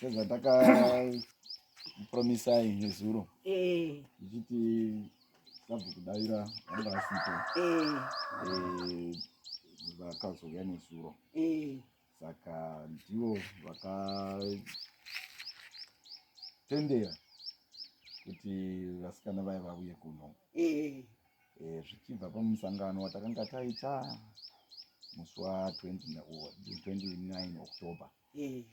sezvatakapromisai nezuro ichiti sabhuku daira vanga vasipo vakazouya nezuro saka ndivo vakatendera kuti vasikana vaya vauye kuno eh. Eh, zvichibva pamusangano watakanga taita musi wa 29 october eh.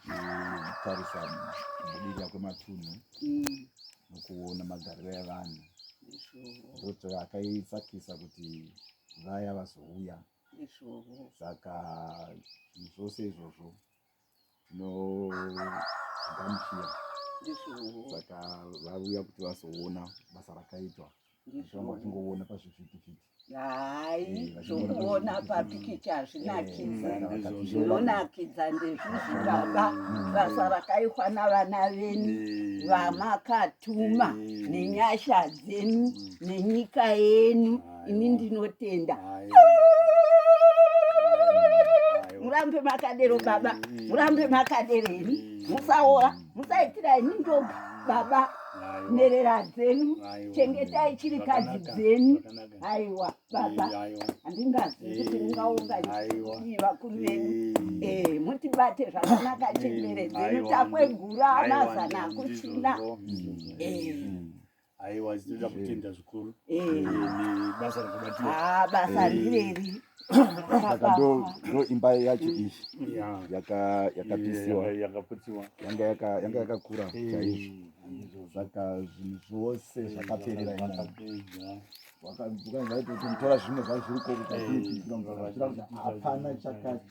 tichitarisa kubudirira kwematunhu mm. nokuona magariro evanhu ndokuti akaisakisa kuti vaya vazouya saka zvose izvozvo tinogamuchira saka vauya kuti vazoona basa rakaitwa zvanga vachingoona pazvivhitivhiti hai zvokuona papikicha hazvinakidza zvinonakidza ndezvizvi baba basa rakaitwa navana venyu vamakatuma nenyasha dzenyu nenyika yenyu ini ndinotenda murambe makadero baba murambe makadero ini musaora musaitira ini ndoga baba nherera dzenyu chengetai chirikadzi dzenyu aiwa baba handingazivi kuti ungaungaii vakuru venyu eh, mutibate zvakanaka chembere dzenyu takwegura amazana akuchina aiwa tinoda eh. kutenda zvikuru eh. eh, basa rakabatira ah, basa rireri saka ndo ndo imba yacho iyi yakapisiwa yakaputsiwa yanga yaka yanga yakakura chaizvo saka zvinhu zvose zvakaperera imomo ukanzwa kuti tora zvimwe zvazviri ko kukatiiiakuti hapana chakati